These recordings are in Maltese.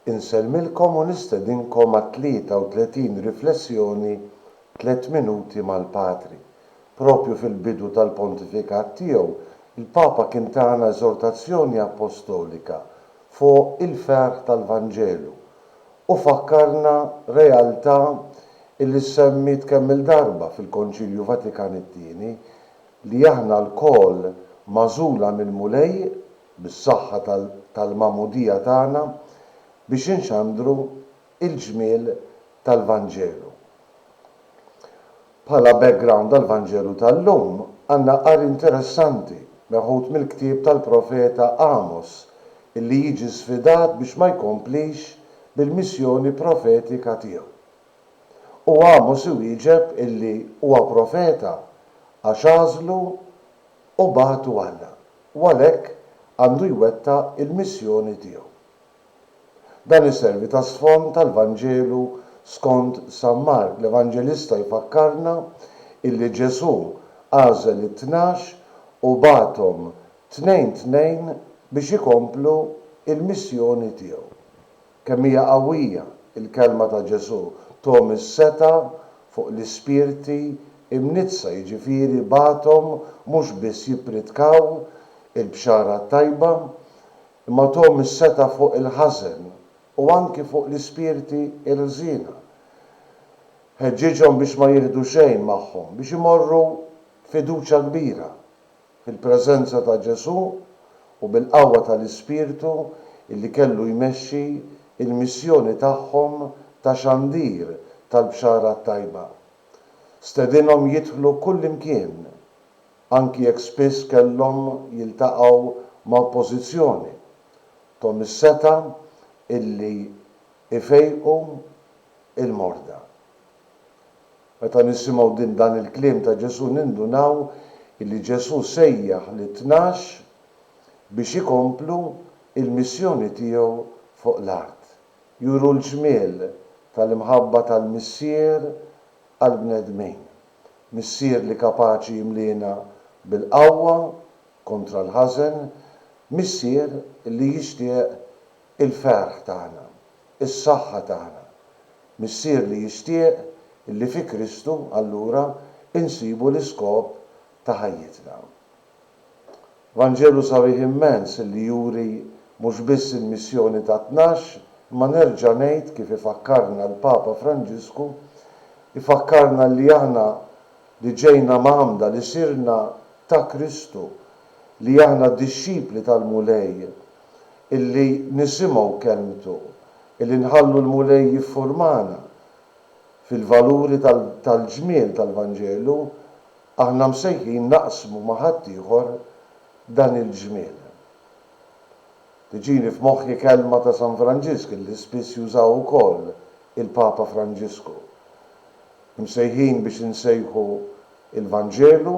Insellmilkom u nistedinkom għat-33 Riflessjoni Tliet Minuti mal-Patri. Proprju fil-bidu tal-pontifikat tiegħu, il-Papa kien tana eżortazzjoni appostolika fuq il-ferħ tal-Vanġelu u fakkarna realtà li ssemmiet kemm-il darba fil-Konċilju Vatikan it-Tieni, li aħna lkoll magħżula mill-Mulej bis-saħħa tal-Magħmudija tagħna biex inxandru l-ġmiel tal-Vanġelu. Bħala background għall-Vanġelu tal-lum għandna qari interessanti meħud mill-ktieb tal-profeta Għamos illi jiġi sfidat biex ma jkomplix bil-missjoni profetika tiegħu. U Għamos iwieġeb illi huwa profeta għax għażlu u bagħtu Alla u għalhekk għandu jwettaq il-missjoni tiegħu. Dan iservi ta' sfond għall-Vanġelu skont San Mark, l-Evanġelista jfakkarna illi Ġesù għażel it-tnax u bagħathom tnejn tnejn biex ikomplu l-missjoni tiegħu. Kemm hija qawwija l-kelma ta' Ġesù, Thom is-setgħa fuq l-ispirti mniġġsa, jiġifieri bagħathom mhux biss jippridkaw il-Bxara t-Tajba, imma thom is-setgħa fuq il-ħażen u anki fuq l-ispirti l-ħżiena. Ħeġġiġhom biex ma jieħdu xejn magħhom, biex imorru b'fiduċja kbira fil-preżenza ta' Ġesù u bil-qawwa tal-Ispirtu li kellu jmexxi l-missjoni tagħhom ta' xandir tal-Bxara t-Tajba. Stedinhom jidħlu kullimkien, anki jekk spiss kellhom jiltaqgħu ma' oppożizzjoni. Thom is-setgħa illi jfejqu l-morda. Meta nisimgħu din dan il-kliem ta' Ġesù nindunaw illi Ġesù sejjaħ lit-tnax biex ikomplu il-missjoni tiegħu fuq l-art, juru l-ġmiel tal-imħabba tal-Missier għall-bnedmin, Missier li kapaċi jimliena bil-qawwa kontra l-ħażen, Missier li jixtieq il-ferħ tagħna. is-saħħa tagħna. Missier li jixtieq illi fi Kristu, allura, insibu l-iskop ta' ħajjitna. Vanġelu sabiħ immens illi juri mhux biss il-missjoni tat-tnax, imma nerġa' ngħid kif ifakkarna l-Papa Franġisku, ifakkarna illi aħna li ġejna mgħammda, li sirna ta' Kristu, li aħna dixxipli tal-Mulej, illi nisimgħu kelmtu, illi nħallu l-Mulej jiffurmana fil-valuri tal-ġmiel tal-Vanġelu, aħna msejħin naqsmu ma' ħaddieħor dan il-ġmiel. Tiġini f'moħħi kelma ta' San Franġisk illi spiss jużaw ukoll il-Papa Franġisku, Imsejħin biex insejħu l-Vanġelu,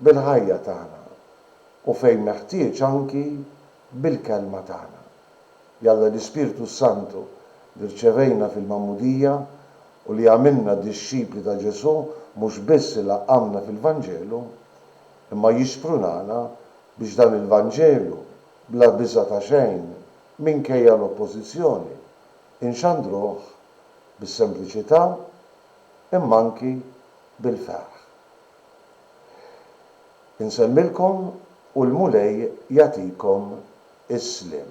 bil-ħajja tagħna u fejn meħtieġ anki bil-kelma tagħna. Jalla l-Ispirtu s-Santu li rċevejna fil-Magħmudija u li għamilna dixxipli ta' Ġesù mhux biss ilaqqamna fil-Vanġelu, imma jixprunana biex dan il-Vanġelu, bla biża' ta' xejn, minkejja l-oppożizzjoni, inxandruh bis-sempliċità imma anki bil-ferħ. Insellmilkom u l-Mulej jagħtikom is-sliem.